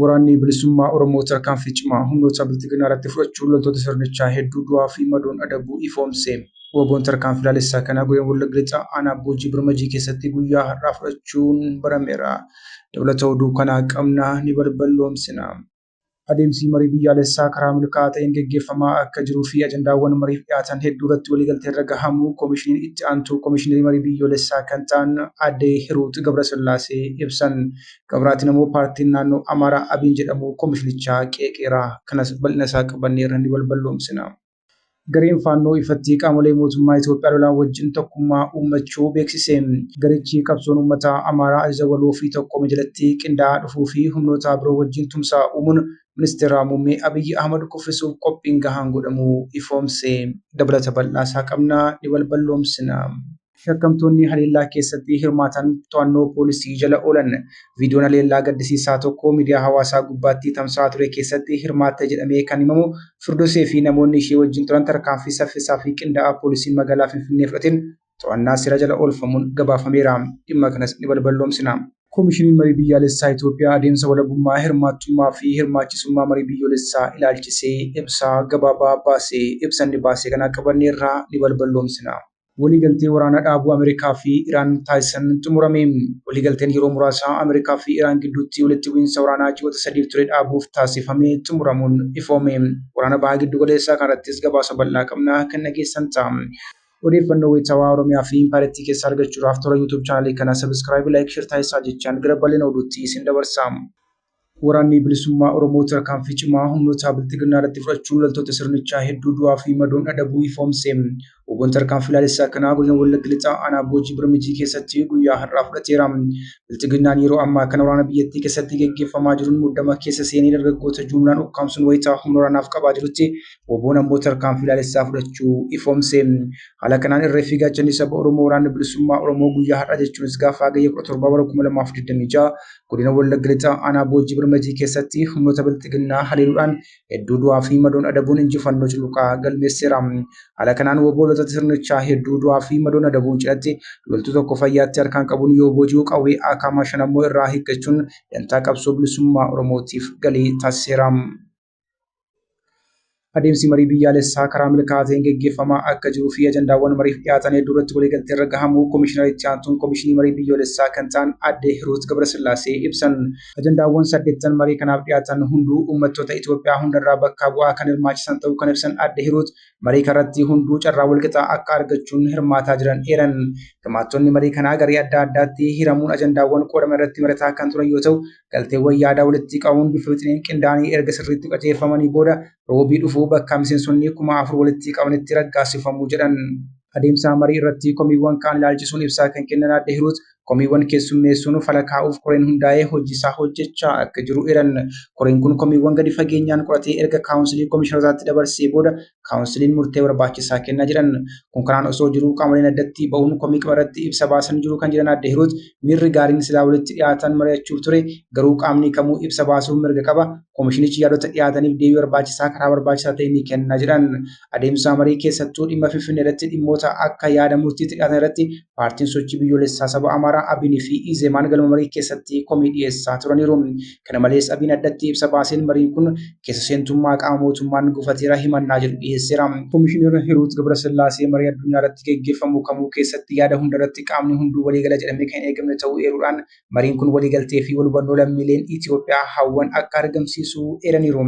Waraanni bilisummaa Oromoo tarkaanfii cimaa humnoota bilxiginnaa irratti fudhachuun loltoota sirnichaa hedduu du'aa fi madoon adabuu ifoomse. Woboon tarkaanfii laalessaa kana godina Wallagga Lixaa aanaa Boojii Birmajii keessatti guyyaa har'aa fudhachuun barameera. Dabalata oduu kanaa qabna, ni balballoomsina. Adeemsi marii biyyaalessaa karaa milkaa'aa ta'een geggeeffamaa akka jiruu fi ajandaawwan mariif dhiyaatan hedduu irratti waliigalteerra gahamuu Komishiniin Itti Aantuu Komishinerii Marii Biyyoolessaa kan ta'an Aadde Hiruut Gabrasillaasee ibsan. Qabiraatiin ammoo paartiin naannoo Amaaraa Abiin jedhamu komishinichaa qeeqeera. Kanas bal'ina isaa qabannee irra ni balballoomsina. Gareen Faannoo ifatti qaamolee mootummaa Itoophiyaa lolaan wajjin tokkummaa uummachuu beeksise. Garichi qabsoon uummataa Amaaraa ajaja waloo fi tokkoome jalatti qindaa'aa dhufuu fi humnootaa biroo wajjin tumsaa uumuun Ministeeraa Muummee Abiyyi Ahmad kuffisuuf qophiin gahaan godhamuu ifoomse. Dabalata bal'aa isaa qabna, ni balballoomsina. Shakkamtoonni haleellaa keessatti hirmaatan to'annoo poolisii jala oolan. Viidiyoon haleellaa gaddisiisaa tokko miidiyaa hawaasaa gubbaatti tamsa'aa ture keessatti hirmaatte jedhamee kan himamu Firdosee fi namoonni ishee wajjin turan tarkaanfii saffisaa fi qindaa'aa poolisiin magaalaa Finfinnee fudhateen to'annaa seeraa jala oolfamuun gabaafameera. Dhimma kanas ni balballoomsina. Komishiniin Marii Biyyaalessaa Itoophiyaa adeemsa walabummaa, hirmaattummaa fi hirmaachisummaa marii biyyoolessaa ilaalchisee ibsaa gabaabaa baase. Ibsa inni baase kana qabanneerra, ni balballoomsina. Waliigaltee waraana dhaabuu Ameerikaa fi Iraan taasisan xumurame. Waliigalteen yeroo muraasaa Ameerikaa fi Iraan gidduutti walitti bu'iinsa waraanaa ji'oota sadiif ture dhaabuuf taasifame xumuramuun ifoome. Waraana Baha Giddu Galeessaa kanarrattis gabaasa bal'aa qabna kan dhageessan ta'a. Odeeffannoo wayitaawaa Oromiyaa fi Impaayerattii keessaa argachuudhaaf toora YouTube chaanalii kanaa subscribe, like, share taasisaa jechaan gara bal'ina oduutti isin dabarsa. Waraanni Bilisummaa Oromoo tarkaanfii cimaa humnoota bilxiginnaa irratti fudhachuun loltoota sirnichaa hedduu du'aa fi madoon adabuu ifoomse. Oboon tarkaanfii laalessaa kanaa godina Wallagga Lixaa aanaa Boojii Birmijii keessatti guyyaa har'aa fudhateera. Bilxiginnaan yeroo ammaa kana waraana biyyattii keessatti geggeeffamaa jiruun muddama keessa seenee dargaggoota juumlaan ukkaamsuun wayita humna waraanaaf qabaa jirutti oboon ammoo tarkaanfii laalessaa fudhachuu ifoomse. Haala kanaan irree fi gaachanni saba Oromoo waraanni bilisummaa Oromoo guyyaa har'aa jechuunis gaafa Hagayya 17 bara 2026 Godina Wallagga Lixaa aanaa Boojii Birmajii keessatti humnoota bilxiginnaa haleeluudhaan hedduu du'aa fi madoon adabuun injifannoo cululuqaa galmeesseera. Haala kanaan wobboolota sirnichaa hedduu du'aa fi madoon adabuun cidhatti loltuu tokko fayyaatti harkaan qabuun yoo booji'u qawwee akaamaa shan ammoo irraa hiikkachuun dantaa qabsoo bilisummaa Oromootiif galii taasiseera. Adeemsi marii biyyaalessaa karaa milkaa'aa ta'een geggeeffamaa akka jiruu fi ajandaawwan mariif dhiyaatan hedduu irratti waliigaltee irra gahamuu Komishinara Itti Aantuun Komishinii Marii Biyyoolessaa kan ta'an Aadde Hiruut Gabrasillaasee ibsan. Ajandaawwan saddeettan marii kanaaf dhiyaatan hunduu uummattoota Itoophiyaa hundarraa bakkaa bu'aa kan hirmaachisan ta'uu kan ibsan Aadde Hiruut, marii kanarratti hunduu carraa walqixaa akka argachuun hirmaataa jiran eeran. Hirmaattonni marii kanaa garee adda addaatti hiramuun ajandaawwan qoodaman irratti mari'ataa kan turan yoo ta'u, galteewwan yaadaa walitti qabuun bifa wixineen qindaa'anii erga sirriitti qajeelfamanii booda roobii dhufuu bakka miseensonni kuma afur walitti qabanitti raggaasifamu jedhan. Adeemsa marii irratti komiiwwan ka'an ilaalchisuun ibsaa kan kennan Aadde Hiruut, komiiwwan keessummeessuun fala kaa'uuf koreen hundaa'ee hojiisaa hojjechaa akka jiru eeran. Koreen kun komiiwwan gadi fageenyaan qoratee erga kaawunsilii komishinarootaatti dabarsee booda kaawunsiliin murtee barbaachisaa kennaa jiran kun kanaan osoo jiruu qaamoleen addatti ba'uun komii qaba irratti ibsa baasan jiru kan jiran adde hiruut miirri gaariin silaa walitti dhiyaatan mari'achuuf ture garuu qaamni kamuu ibsa baasuuf mirga qaba komishinichi yaadota dhiyaataniif deebii barbaachisaa karaa barbaachisaa ta'e ni kenna jedhan adeemsa marii keessattuu dhimma finfinnee irratti dhimmoota akka yaada murtiitti dhiyaatan irratti paartiin sochii biyyoolessaa saba amaaraa abinii fi izemaan galma marii keessatti komii dhiyeessaa turaniiru Kana malees Abiin addatti ibsa baaseen mariin kun keessa seentummaa qaama mootummaan gufateera himannaa jedhu dhiyeesseera. Komishinera Hiruut Gabrasillaasee marii addunyaa irratti geggeeffamu kamuu keessatti yaada hunda irratti qaamni hunduu waliigala jedhamee kan hin eegamne ta'uu eeruudhaan mariin kun waliigaltee fi walhubannoo lammiileen Itiyoophiyaa hawwan akka argamsiisu eeraniiru.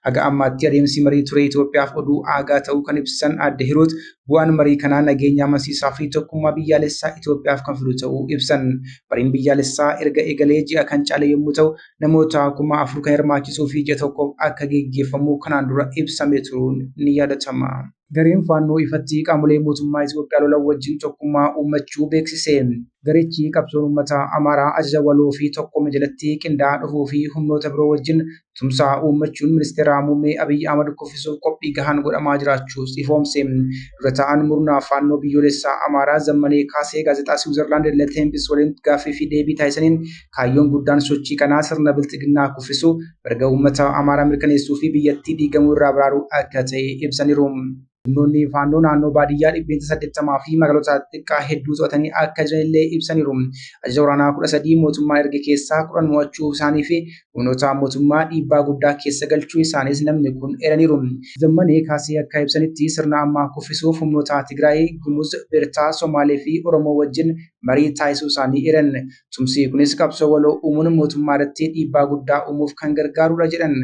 Haga ammaatti adeemsi marii ture Itiyoophiyaaf oduu aagaa ta'uu kan ibsan Aadde Hiruut Bu'aan marii kanaa nageenya amansiisaa fi tokkummaa biyyaalessaa Itoophiyaaf kan fidu ta'uu ibsan. Mariin biyyaalessaa erga eegalee ji'a kan caale yommuu ta'u, namoota kuma afur kan hirmaachisuu fi ji'a tokkoof akka geggeeffamu kanaan dura ibsamee turuun ni yaadatama. Gareen Faannoo ifatti qaamolee mootummaa Itoophiyaa lolan wajjin tokkummaa uummachuu beeksise. Garichi qabsoon uummataa Amaaraa ajaja waloo fi tokkoome jalatti qindaa'aa dhufuu fi humnoota biroo wajjin tumsaa uummachuun ministeeraa muummee Abiyyi Ahmad kuffisuuf qophii gahaan godhamaa jiraachuus ifoomse. Dura taa'aan murnaa faannoo biyyoolessaa Amaaraa Zammanee Kaasee gaazexaa Siwiizarlaand Le Tempis waliin gaaffii fi deebii taasisaniin kaayyoon guddaan sochii kanaa sirna bilxiginnaa kuffisuu, mirga uummataa Amaaraa mirkaneessuu fi biyyattii diigamuu irraa baraaruu akka ta'e ibsaniru. Humnoonni faannoo naannoo baadiyyaa dhibbeentaa 80 fi magaalota xixiqqaa hedduu to'atanii akka jiranillee ibsaniiru. Ajaja waraanaa 13 mootummaan erge keessaa 10 mo'achuu isaanii fi humnoota mootummaa dhiibbaa guddaa keessa galchuu isaaniis namni kun eeraniiru. Zammanee Kaasee akka ibsanitti sirna ammaa kuffisuuf humnoota Tigraay, Gumuz, Beertaa, Somaalee fi Oromoo wajjin marii taasisuu isaanii eeran. Tumsi kunis qabsoo waloo uumuun mootummaa irratti dhiibbaa guddaa uumuuf kan gargaarudha jedhan.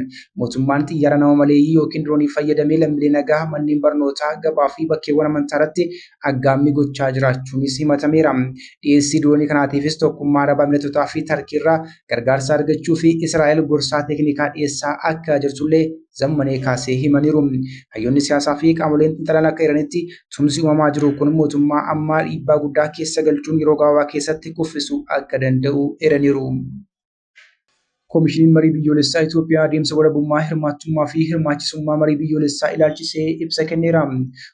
Mootummaan xiyyaara nama maleeyyii yookiin diroonii fayyadamee lammilee nagaa manneen barnootaa, gabaa fi bakkeewwan amantaa irratti aggaammii gochaa jiraachuunis himatameera. Dhiyeessii diroonii kanaatiifis Tokkummaa Araba Emireetotaa fi Tarkii irraa gargaarsa argachuuf Israa'el gorsaa teeknikaa dhiyeessaa akka jirtullee Zammanee kaasee himaniiru. Hayyoonni siyaasaa fi qaamoleen xiinxalan akka eeranitti Tumsi uumamaa jiru kun mootummaa ammaa dhiibbaa guddaa keessa galchuun yeroo gabaabaa keessatti kuffisuu akka danda'u eeraniiru. Koomishiniin Marii Biyyoolessaa Itoophiyaa adeemsa walabummaa, hirmaachummaa fi hirmaachisummaa marii biyyoolessaa ilaalchisee ibsa kenneera.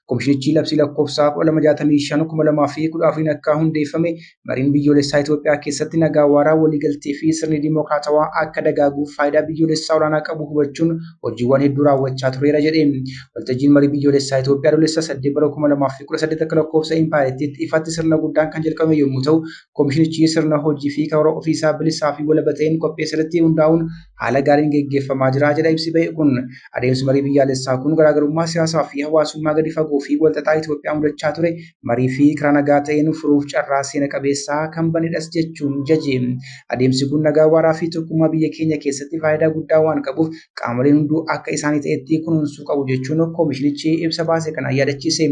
Koomishinichi labsii lakkoofsa 1265/2014 akka hundeeffame Mariin biyyoolessaa Itoophiyaa keessatti nagaa waaraa waliigaltee fi sirni dimookiraatawaa akka dagaaguuf faayidaa biyyoolessaa olaanaa qabu hubachuun hojiiwwan hedduu raawwachaa tureera jedhe. Waltajjiin marii biyyoolessaa Itoophiyaa Adoolessa 8 bara 2018 akka lakkoofsa impaayerittiitti ifatti sirna guddaan kan jalqabame yommuu ta'u, komishinichi sirna hojii fi karoora ofiisaa bilisaa fi walaba ta'een qopheesse irratti hundaa'uun haala gaariin geggeeffamaa jira jedha ibsi ba'e kun. Adeemsi marii biyyaalessaa kun garaagarummaa siyaasaa fi hawaasummaa gadi fagoo fi walxaxaa Itoophiyaa mudachaa ture marii fi karaa nagaa ta'een furuuf carraa seena qabeessaa kan banedhas jechuun jaje. Adeemsi kun nagaa waaraa fi tokkummaa biyya keenya keessatti faayidaa guddaa waan qabuuf qaamoleen hunduu akka isaanii ta'etti kunuunsuu qabu jechuun koomishinichi ibsa baase kanaan yaadachiise.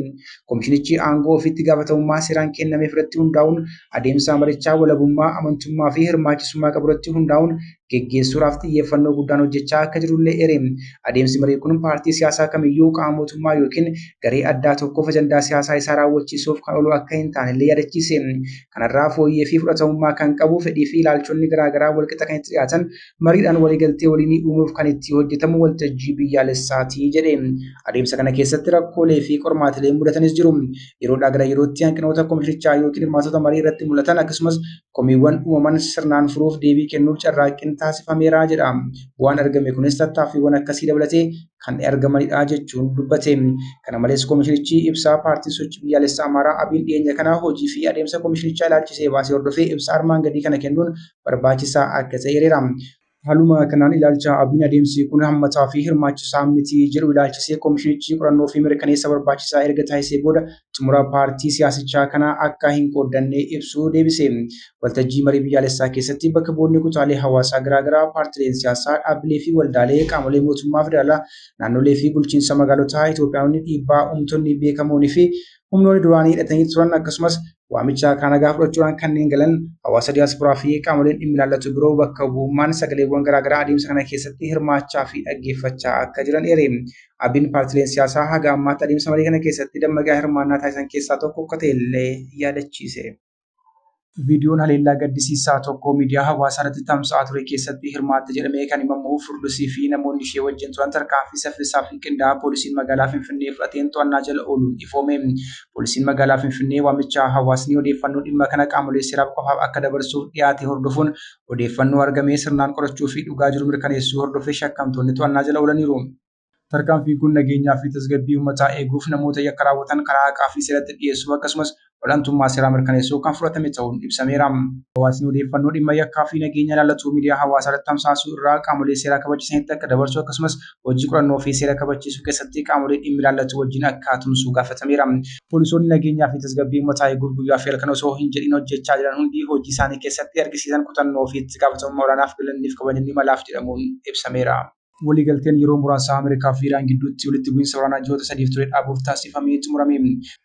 Koomishinichi aangoo ofiitti gaafatamummaa seeraan kennameef irratti hundaa'uun adeemsa marichaa walabummaa, amantummaa fi hirmaachisummaa qabu irratti hundaa'uun geggeessuudhaaf xiyyeeffannoo guddaan hojjechaa akka jirullee eere. Adeemsi marii kun paartii siyaasaa kamiyyuu qaama mootummaa yookiin garee addaa tokkoof ajandaa siyaasaa isaa raawwachiisuuf kan oolu akka hin taanellee yaadachiise. Kanarraa fooyyee fi fudhatamummaa kan qabu fedhii fi ilaalchonni garaagaraa walqixa kan itti dhiyaatan mariidhaan waliigaltee waliinii uumuuf kan itti hojjetamu waltajjii biyyaalessaati jedhe. Adeemsa kana keessatti rakkoolee fi qormaatilee mudatanis jiru. Yeroodhaa gara yerootti hanqinoota komishinichaa yookiin hirmaatota marii irratti mul'atan akkasumas komiiwwan uumaman sirnaan furuuf deebii kennuuf carraaqqiin taasifameera jedha. Bu'aan argame kunis tattaaffiiwwan akkasii dabalatee kan argamanidha jechuun dubbate. Kana malees komishinichi ibsaa paartiin sochii biyyaalessaa Amaaraa Abiin dhiyeenya kana hojii fi adeemsa komishinichaa ilaalchisee baasee hordofee ibsa armaan gadii kana kennuun barbaachisaa akka ta'e eereera. Haaluma kanaan ilaalcha ABOn adeemsi kun hammataa fi hirmaachisaa miti jedhu ilaalchisee komishinichi qorannoo fi mirkaneessa barbaachisaa erga taasisee booda xumura paartii siyaasichaa kana akka hin qooddanne ibsuu deebise. Waltajjii marii biyyaalessaa keessatti bakka bu'oonni kutaalee hawaasaa garaa garaa, paartileen siyaasaa, dhaabbilee fi waldaalee, qaamolee mootummaa federaalaa, naannolee fi bulchiinsa magaalotaa, Itoophiyaanonni, dhiibbaa uumtonni beekamoon fi humnoonni duraanii hidhatanii turan akkasumas Waamicha kaa nagaa fudhachuudhaan kanneen galan hawaasa diyaasporaa fi qaamoleen dhimmi ilaallatu biroo bakka bu'ummaan sagaleewwan garaagaraa adeemsa kana keessatti hirmaachaa fi dhaggeeffachaa akka jiran eere. Abin paartileen siyaasaa haga ammaatti adeemsa marii kana keessatti dammaqaa hirmaannaa taasisan keessaa tokko akka ta'e illee yaadachiise. Viidiyoon haleellaa gaddisiisaa tokko miidiyaa hawaasaa irratti tamsa'aa ture keessatti hirmaatte jedhamee kan himamu Furdusii fi namoonni ishee wajjin turan tarkaanfii saffisaa fi qindaa'aa poolisiin magaalaa Finfinnee fudhateen to'annaa jala ooluun ifoome. Poolisiin magaalaa Finfinnee waamichaa hawaasni odeeffannoo dhimma kana qaamolee seeraaf qofaaf akka dabarsuuf dhiyaate hordofuun odeeffannoo argamee sirnaan qorachuu fi dhugaa jiru mirkaneessuu hordofee shakkamtoonni to'annaa jala oolaniiru. Tarkaanfiin kun nageenyaa fi tasgabbii uummataa eeguuf, namoota yakka raawwatan karaa haqaa fi seeratti dhiyeessuuf akkasumas ol'antummaa seeraa mirkaneessuuf kan fudhatame ta'uun ibsameera. Hawaasni odeeffannoo dhimma yakkaa fi nageenya ilaallatu miidiyaa hawaasaa irratti tamsaasuu irraa qaamolee seeraa kabachisanitti akka dabarsu akkasumas hojii qorannoo fi seera kabachiisuu keessatti qaamolee dhimmi ilaallatu wajjin akka tumsu gaafatameera. Poolisoonni nageenyaa fi tasgabbii uummataa eeguuf guyyaa fi halkan osoo hin jedhin hojjechaa jiran hundi hojii isaanii keessatti argisiisan kutannoo fi itti gaafatamummaa olaanaaf galanni fi kabajni ni malaaf jedhamuun ibsameera. Waliigalteen yeroo muraasaa Ameerikaa fi Iraan gidduutti walitti bu'iinsa waraanaa ji'oota sadiif ture dhaabuuf taasifame xumurame.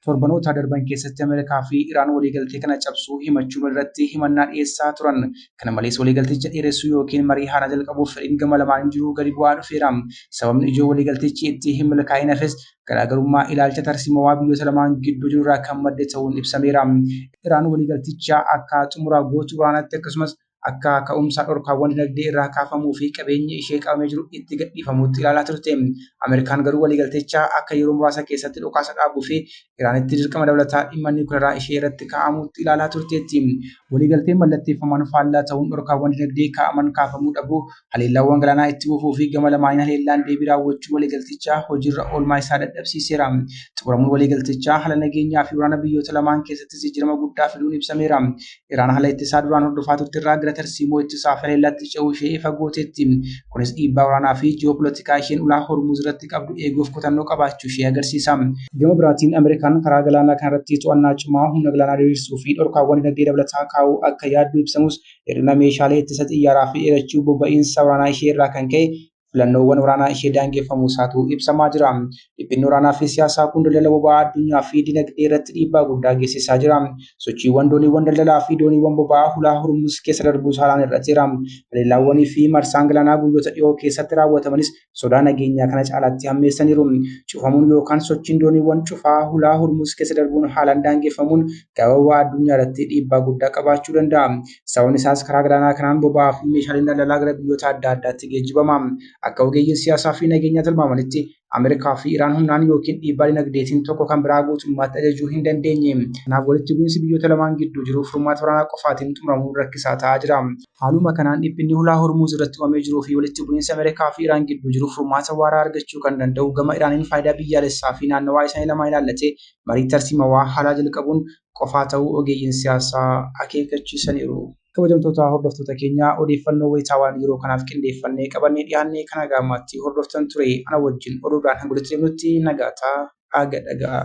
Torbanoota darban keessatti Ameerikaa fi Iraan waliigaltee kana cabsuu himachuun walirratti himannaa dhiyeessaa turan. Kana malees waliigalticha dheeressuu yookiin marii haaraa jalqabuuf fedhiin gama lamaan jiruu gadi bu'aa dhufeera. Sababni ijoo waliigaltichi itti hin milkaa'inafis garaagarummaa ilaalcha tarsiimawaa biyyoota lamaan gidduu jirurraa kan madde ta'uun ibsameera. Iraan waliigalticha akka xumura gootu waraanatti akkasumas akka ka'umsa dhorkaawwan dinagdee irraa kaafamuu fi qabeenyi ishee qabamee jiru itti gadhiifamuutti ilaalaa turte. Ameerikaan garuu waliigalticha akka yeroo muraasa keessatti dhukaasa dhaabuu fi Iraanitti dirqama dabalataa dhimma niwukilaraa ishee irratti kaa'amutti ilaalaa turteetti. Waliigalteen mallatteeffaman faallaa ta'uun dhorkaawwan dinagdee kaa'aman kaafamuu dhabuu, haleellaawwan galaanaa itti fufuu fi gama lamaaniin haleellaan deebii raawwachuu waliigaltichaa hojiirra oolmaa isaa dadhabsiiseera. Xumuramuun waliigaltichaa haala nageenyaa fi waraana biyyoota lamaan keessattis jijjiirama guddaa fiduun ibsameera. Iraan haala ittisaa duraan hordofaa turte irraa gara tarsiimoo ittisaa haleellaatti ce'uu ishee ifa gooteetti. Kunis dhiibbaa waraanaa fi ji'oopolitikaa isheen ulaa Hormuuz irratti qabdu eeguuf kutannoo qabaachuu ishee agarsiisa. Gama biraatiin Ameerikaan karaa galaanaa kanarratti to'annaa cimaa, humna galaanaa diriirsuu fi dhorkaawwan dinagdee dabalataa kaa'uu akka yaaddu ibsamus, hir'ina meeshaalee ittisa xiyyaaraa fi dheerachuu boba'iinsa waraanaa ishee irraa kan ka'e filannoowwan waraanaa ishee daangeffamuu isaatu ibsamaa jira. Dhiphinni waraanaa fi siyaasaa kun daldala boba'aa addunyaa fi dinagdee irratti dhiibbaa guddaa geessisaa jira. Sochiiwwan dooniiwwan daldalaa fi dooniiwwan boba'aa hulaa Hormuz keessa darbuu saalaan hir'ateera. Haleellaawwanii fi marsaan galaanaa guyyoota dhiyoo keessatti raawwatamanis sodaa nageenyaa kana caalaatti hammeessaniiru. Cufamuun yookaan sochiin dooniiwwan cufaa hulaa Hormuz keessa darbuun haalaan daangeffamuun gabaa boba'aa addunyaa irratti dhiibbaa guddaa qabaachuu danda'a. Sababni isaas karaa galaanaa kanaan boba'aa fi meeshaaleen daldalaa gara biyyoota adda addaatti geejjibama. Akka ogeeyyiin siyaasaa fi nageenyaa tilmaamanitti Ameerikaa fi Iraan humnaan yookiin dhiibbaa dinagdeetiin tokko kan biraa guutummaatti ajajuu hin dandeenye. Kanaaf walitti bu'iinsi biyyoota lamaan gidduu jiru furmaata waraanaa qofaatiin xumuramuun rakkisaa ta'aa jira. Haaluma kanaan dhiphinni hulaa Hormuuz irratti uumamee jiruu fi walitti bu'iinsi Ameerikaa fi Iraan gidduu jiru furmaata waaraa argachuu kan danda'u gama Iraaniin faayidaa biyyaalessaa fi naannawaa isaanii lamaan ilaallatee marii tarsiimawaa haaraa jalqabuun qofaa ta'uu ogeeyyiin siyaasaa akeekkachiisaniiru. Kabajamtoota hordoftoota keenyaa odeeffannoo wayitaawaan yeroo kanaaf qindeeffannee qabannee dhiyaanne kan haga ammaatti hordoftan ture. Ana wajjin oduudhaan hanga walitti deemnutti nagaa ta, aa ga dhaga'aa.